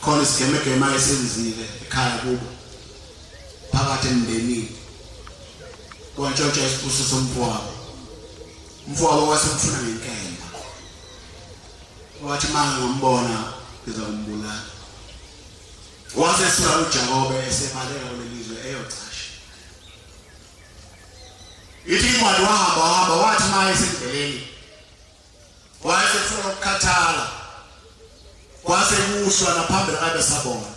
khona isigemegema esenzile ekhaya kubo phakathi emndenini kwantshontsha isibuso somfowabo umfowabo wasemfuna ngenkemba wathi uma ngimbona ngiza kumbulala wase sula ujakobe esebaleka kuleli zwe eyocasha ithi imali wahamba wahamba wathi uma esendleleni wayesefuna ukukhathala kwase kushwa naphambili kabe sabona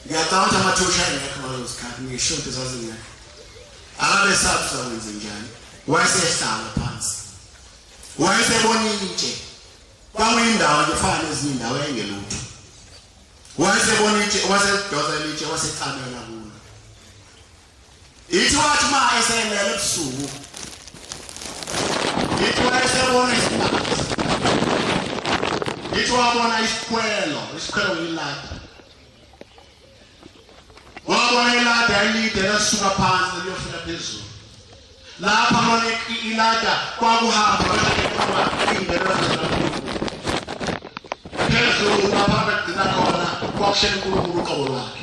ngiyacabanga amathosha engekho ngalezo sikhathi ngisho ukuthi zazingekho akabe sathi uzakwenze njani wayesehlala phansi wayesebona intshe kwakuyindawo nje fana nezinye indawo engelutho wayesebona intshe wasedosa litshe wasecamela kulo Ithi wathi uma eselele ebusuku. Ithi wayesebona isimanga. Ithi wabona isikhwelo, isikhwelo yilapha. Wabona ilada elide lasuka phansi liyofika phezulu. Lapha bona ilada kwakuhamba ingenwa phezulu lapha begcina khona kwakushela uNkulunkulu uqobo lwakhe.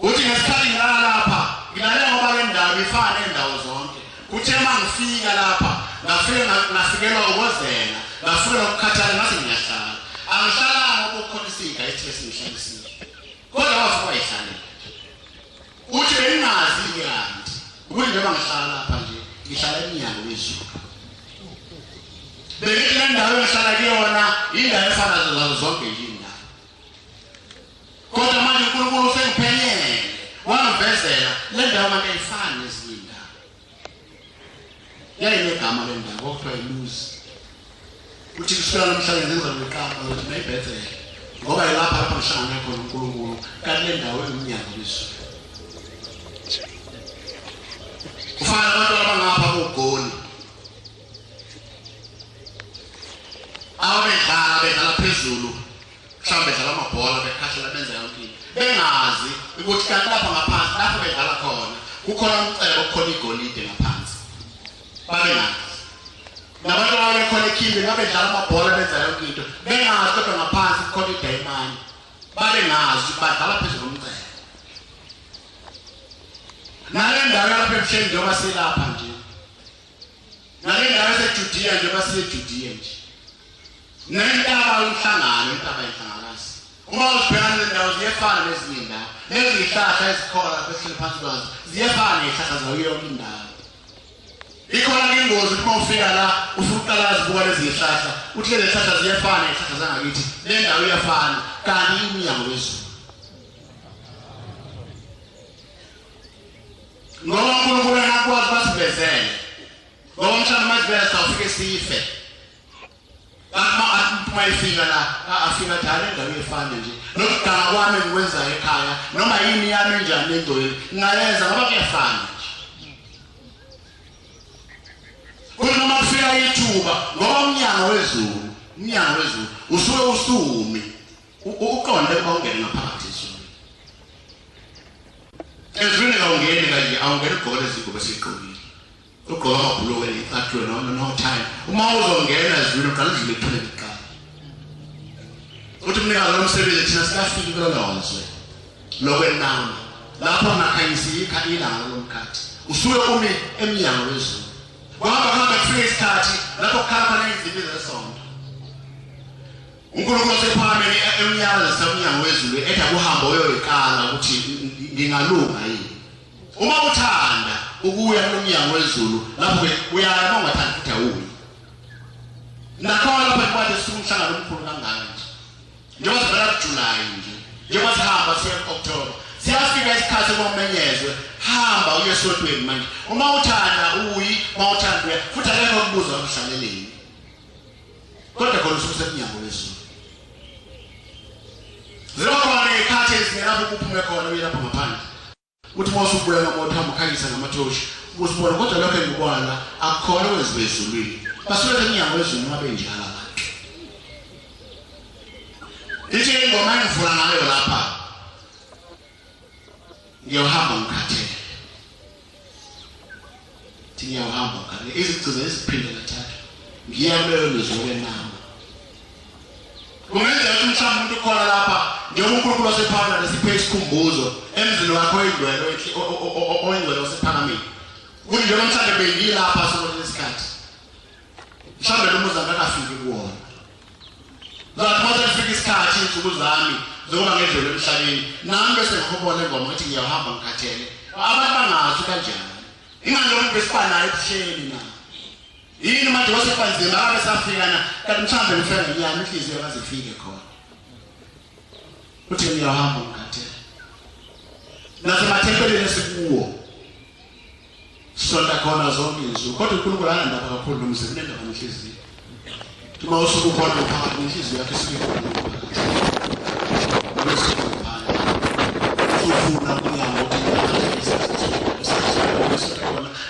Uthi ngesikhathi ngilala lapha, ngilale ngoba le ndawo ifana neendawo zonke. Kuthe uma ngifika lapha, ngafike ngafikelwa ukozela, ngafikelwa ukukhathala ngathi ngiyahlala. Angihlalanga ngoba ukhona isinga ethi esingihlalisile. Kodwa wafa wayihlalela. Uthi bengingazi ngiyanti. Ukuthi njengoba ngihlala lapha nje, ngihlala emnyango wezulu. Bengithi le ndawo engihlala kuyona, indawo efana nazo zonke yini. kodwa manje unkulunkulu usengiphelele wangivezela le ndawo manje ayifani nezinye indawo yayinegama le ndawo kwakuthiwa yiluzi uthi kusukela namhlanje ngenza ngiqamba ukuthi nayibhethele ngoba yilapha lapha ngihlangane khona unkulunkulu kanti le ndawo iwumnyango lizulu ufana abantu abangapha kogoli ababedlala bedlala phezulu mhlawumbe bedlala amabhola bekhahlela benza yonke into bengazi ukuthi kanti lapha ngaphansi lapho bedlala khona kukhona umcebo kukhona igolide ngaphansi babengazi nabantu ababekhona ekhinde babedlala amabhola benza yonke into bengazi kodwa ngaphansi kukhona idayimani babengazi badlala phezu komcebo nale ndawo yalapha ebuhleni njengoba silapha nje Nalendawo eseJudiya nje basiyeJudiya nje. Nentaba umhlangano intaba ihlangakazi. Uma uzibhekana nendawo ziyefana nezinye indawo. Nezihlahla ezikhona lapha esihleli phansi kwazo ziyefana nezihlahla zayo yonke indawo. Ikhona ke ingozi uma ufika la usuqala zibuka lezi zihlahla uthi lezi zihlahla ziyefana izihlahla zangakithi le ndawo iyafana kanti imnyango wezulu. ngoba uNkulunkulu akwazi basivezele ngoba umshana mazivela sawufike sife bakuma aphuma efika la afika njalo endaweni efana nje nokuganga kwami ngikwenzayo ekhaya noma yini yami enjani endweni ngingayenza ngoba kuyafana kuthi noma kufika ithuba ngoba umnyango wezulu umnyango wezulu usuke usumi Uqonde ukuba ungene ngaphakathi ezulwini. Ezulwini kawungeni kanje awungeni ugqoke izingubo esiqokile. Ugqoka amabhulukwe ecathulo noma no time. Uma uzongena ezulwini uqala udlule ithule kuqala. Uthi mnikazi lomsebenzi thina sikafiki kulolozwe. Lokwenama. Lapho ngakhanyisa ikha ilanga lomkhathi. Usuke umi emnyango wezulu. Kwaba kuhamba kufika isikhathi lapho kukhala khona izinto zesonto. UNkulunkulu wasephakame emnyakazisa umnyango wezulu ethi akuhambe oyoyiqala ukuthi ngingalunga yini. Uma uthanda ukuya kumnyango wezulu lapho uyaya uma ungathandi futhi awuyi. Nakhona lapha kwathi sikumhlangano omkhulu kangaka nje. Njengoba sivela kuJuly nje, njengoba sihamba siya ku-October, siyafika isikhathi kokumenyezwe hamba uye esotweni manje uma uthanda uyi uma uthanda uya futhi akekho okubuza umhlaleleni kodwa khona usuku sekunyango lwezulu ziba khona ngekhathi ezingelapho kuphume khona uye lapho ngaphandle uthi uma usubuya nomoto hamba ukhanyisa ngamathoshi usibona kodwa lokho engikubona akukhona okwenziwa ezulwini basuke sekunyango lwezulu uma benjalo abantu ithi ingoma engivula ngayo lapha ngiyohamba ngikhathele Ngiyahamba ngane izigcina iziphinde kathathu. Ngiyamele nizwe nama. Kungenzeka ukuthi mhlawumbe umuntu ukhona lapha njengoba uNkulunkulu wasephana nesiphe isikhumbuzo emzini wakho oyingcwele oyingcwele wasephakamile. Kunjengoba mhlawumbe bengilapha sona lesikhathi. mhlawumbe lo muzi akakafiki kuwona ngathi uma sekufika isikhathi iy'nsuku zami zokuba ngedlule emhlabeni nami bese ngihobona engoma ukuthi ngiyahamba ngikhathele abantu bangazi kanjani ingani lomuntu besibanayo ebuhleni na yini manje wasebanzima akabe safika na kanti mhlawumbe ngifela nginyama inhliziyo akaze ifike khona uthi ngiyahamba ngikhathele nasemathempelini esikuwo Sonta khona zonke insuku kodwa uNkulunkulu anandaba kakhulu nomzimba unendaba nenhliziyo. Uma usuku ukhona uphakathi nenhliziyo yakhe isuke ikhona. Ufuna kunyango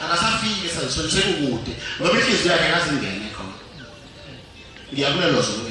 akasafiki esazisweni sekukude ngoba inhliziyo yakhe akazingene khona. Ngiyakulelozwa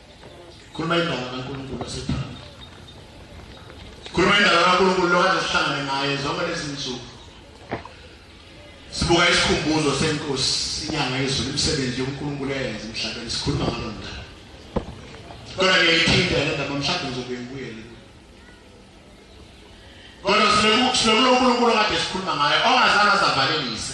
khuluma indaba kaNkulunkulu osethanda khuluma indaba kaNkulunkulu lokade sihlangane naye zonke lezi nsuku sibuka isikhumbuzo senkosi inyanga yezulu imisebenzi yonkulunkulu eyenza emhlabeni sikhuluma ngalo mdala kodwa ngiyayithinta le ndaba mhlawumbe ngizobuye ngibuyele kodwa silokulonkulunkulu kade sikhuluma ngayo ongazange azavalelise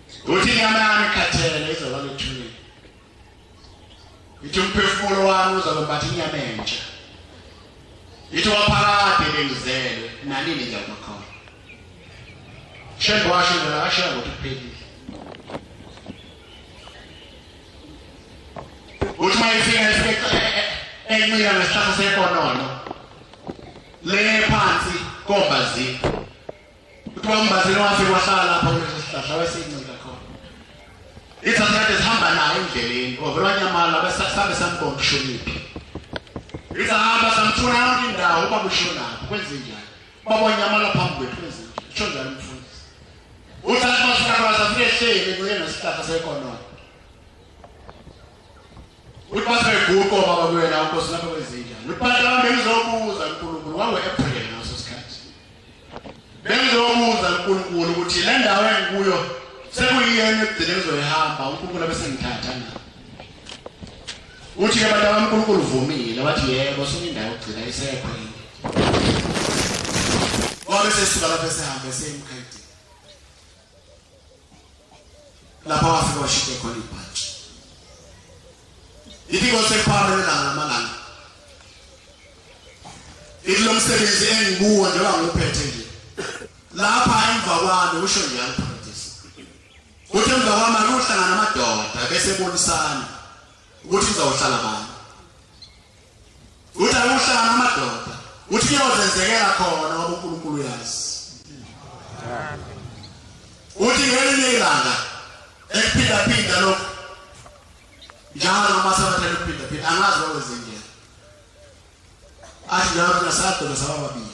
Uthi inyama yami ikhathele izoba luthulile. Ithi umphefumulo wami uzobe mbathi inyama entsha. Ithi waphakade bengizelwe nanini nje bakhona. Shembe washo nje akashiya ukuthi uphelile. Uthi mayifika isikhathi e- e- e- encika nesihlahla sekonono. Le phansi kombazi. Kuthiwa uMbazini wafika wahlala lapha kulesi sihlahla wayesincinda khona. Ithatha kade sihamba nayo endleleni. Ovela wanyamala besasabe sambona ushoniphi. Isahamba samthuna yonke indawo uba kushonaphi kwenze njani. Baba wanyamala phambi kwethu kwenze njani. Kusho njalo umfundisi. Uthatha basuka kwasa fike hleli kuyena sihlahla sekonono. Ulibaza eguqo baba kuyena uNkosi lapha kwezinja. Lubhala lami bengizobuza uNkulunkulu wangu-April ngaso sikhathi. Bengizobuza uNkulunkulu ukuthi le ndawo engikuyo sekuyiyena ekugcine ngizoyihamba uNkulunkulu abesengithatha na. Uthi ke abantu abaNkulunkulu uvumile wathi yebo sunendawo ogcina isekho yini. Wabe sesisuka lapho sehamba esemkhaya. lapho wafika washite khona ibhaji ithi kosephara lelanga lamalanga ithi lo msebenzi engikuwo njengoba nguphethe nje lapha emva kwami usho njalo phakadisi kuthi emva kwami akuhlangana amadoda bese bonisana ukuthi ngizawuhlala bani Uthi ayuhlanga amadoda. Uthi kuyozenzekela khona ngoba uNkulunkulu uyazi. Uthi ngelinye ilanga ekuphinda phinda lokho. Njalo noma sabathatha ukuphinda phinda angazi wakwenze njani. Athi njalo nasadolo sababili.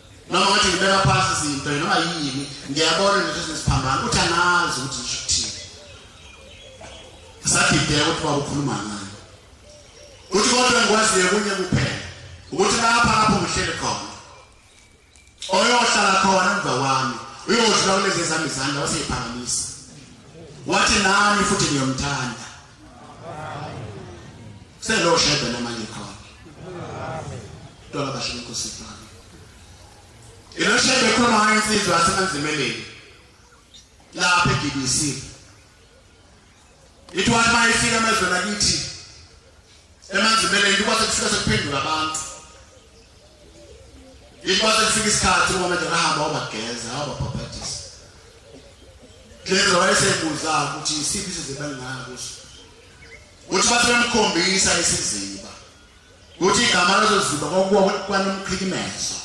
noma ngathi ngibeka phansi izinto noma yini ngiyabona nje ukuthi siphambana uthi anazi ukuthi ngisho ukuthini sadideka ukuthi baba ukhuluma ngani uthi kodwa ngikwaziyo kunye kuphela ukuthi lapha lapho ngihleli khona oyohlala khona emva kwami uyodlula kulezi zami izandla waseyiphakamisa wathi nami futhi ngiyomthanda Selo shebe namanye khona. Tona basho inkosi ifana. Ilo shebe khona hayi insizwa asemanzimeleni. Lapha eGBC. Ithiwa uma ifika amazwe lakithi emanzimeleni kuba sekufika sekuphendula abantu. Ikwase kufika isikhathi uma manje ngahamba wabageza wababhabhadisa. Klenza wayesebuza ukuthi isiphi isiziba engaka kuso. Uthi bathi bemkhombisa isiziba. Uthi igama lezo ziba kwakuwa kwanomqhikimezo.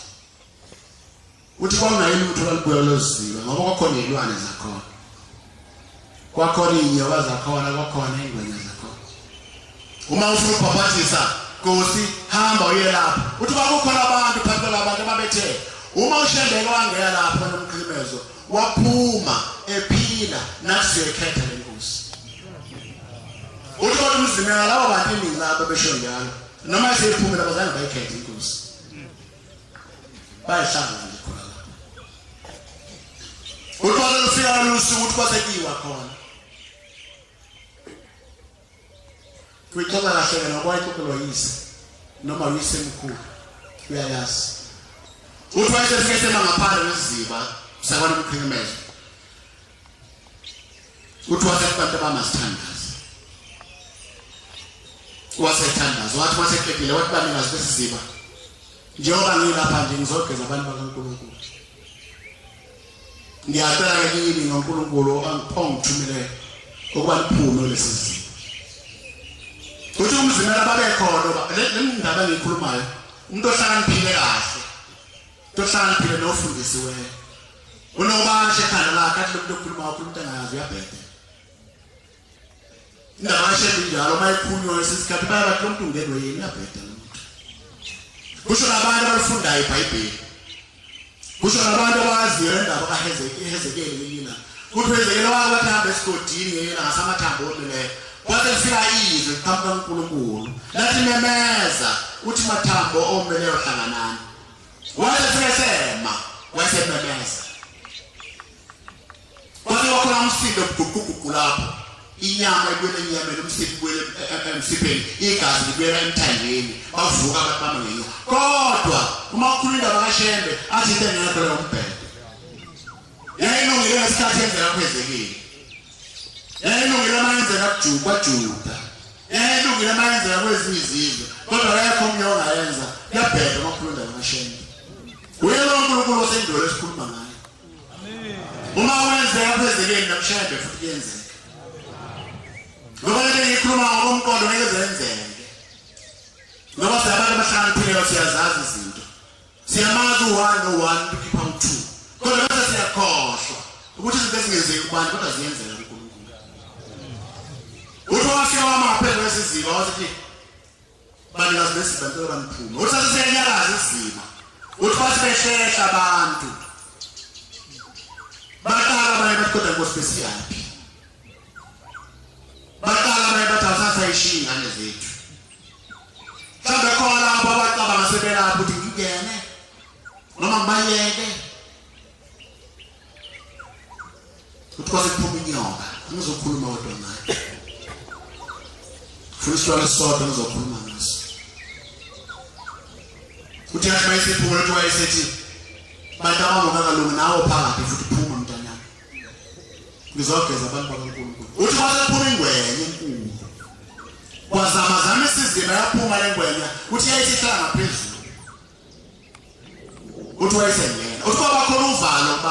Uthi kwakungayini ukuthi balibuya lozizilo ngoba kwakhona izilwane zakhona. Kwakhona izinyoka zakhona, kwakhona ingwenya zakhona. Uma ufuna ukubhapathisa Nkosi hamba uye lapha. Uthi kwakukhona abantu phansi kwalabantu ababethe uma ushembeke wangena lapha nomkhlimezo waphuma ephila nathi ekhetha lenkosi. Uthi kodwa umzimela labo bantu iningi labo besho njalo. Noma esephumile abazange bayikhethe inkosi. bayihlangana nje khona lapho uthola lufika lolusuku ukuthi kwasekiwa khona kuyixoxa kahle wena ngoba ixoxelwa yise noma uyise mkhulu uyayazi uthi wayesefike sema ngaphandle nesiziba sakwana mqhekemeza Uthi wathi abantu abamasithandazi. Wasethandaza, wathi waseqedile wathi banikazi besiziba. Njengoba ngilapha nje ngizogeza abantu bakaNkulunkulu. Ngiyacela ke kini ngoNkulunkulu angiphongithumele ukuba liphume lesi siziba. Uthi umzimela babekhona ngoba le ndaba engikhulumayo umuntu ohlakaniphile kahle. Umuntu ohlakaniphile nofundisiweyo. Unobashe ekhanda lakhe athi lomuntu okhuluma okhuluma ukuthi angayazi uyabheda. Indaba yashethi njalo uma ikhulunywa isikhathi bayabathi lomuntu ungenwe yini uyabheda lo muntu. Kusho nabantu abafundayo iBhayibheli. Kusho nabantu abaziyo indaba kaHezekeli lelina. Kuthi uHezekeli wakuthi hambe esigodini yena ngasamathambo omileyo. Wathi lifika izwi phambi kaNkulunkulu. Lathi memeza uthi mathambo omileyo hlanganani. Wayesesema, wayesememeza. Kwathi wakhona umsindo uguquguqu lapho. Inyama ibuyela enyameni, umsiphi ubuyela emsipheni, igazi libuyela emthandeni. Bavuka abantu bamangeni. Kodwa uma ukhuluma indaba kaShembe, athi into engekho leyo umbhele. yayilungile ngesikhathi yenzeka kwezekile yayilungile uma yenzeka kwajuda yayilungile uma yenzeka kwezinye izizwe kodwa kayekho omunye ongayenza kuyabheda uma ukhuluma ndaba kashembe uye lo nkulunkulu osendwele esikhuluma ngayo uma wenzeka kwezekile namshembe futhi kuyenzeka ngoba lento engiyikhuluma ngokomqondo ngeke zenzeke ngoba siyabantu abahlakaniphile siyazazi izinto Siyamazi u-one no-one ukuthi ukhipha u-two kodwa bese siyakhohlwa ukuthi izinto ezingenzeki kubantu kodwa ziyenzeka kuNkulunkulu. Uthi wafika wamaphezu kwesiziba wasithi banikazi besiziba ntela baniphume. Uthi sathi siyanyakaza isiziba. Uthi bathi behlehla abantu. Baqala abanye bathi kodwa Nkosi besiyaphi? baqala baye bathi asasayishiyi ingane zethu mhlawumbe khona lapho abacabanga sebelapho ukuthi ngingene noma ngibayeke ukuthi kwase kuphuma inyoka angizokhuluma kodwa ngayo funa isitwala esisodwa ngizokhuluma ngaso uthi yathi mayisephumula ukuthi wayesethi bantu abangokakalungi nawo phakathi futhi ngizogeza abantu bakaNkulunkulu uthi kwasephuma ingwenya enkulu kwazama zama isizini yaphuma le ngwenya uthi yayisehlala ngaphezulu uthi wayesengena uthi kwaba khona uvalo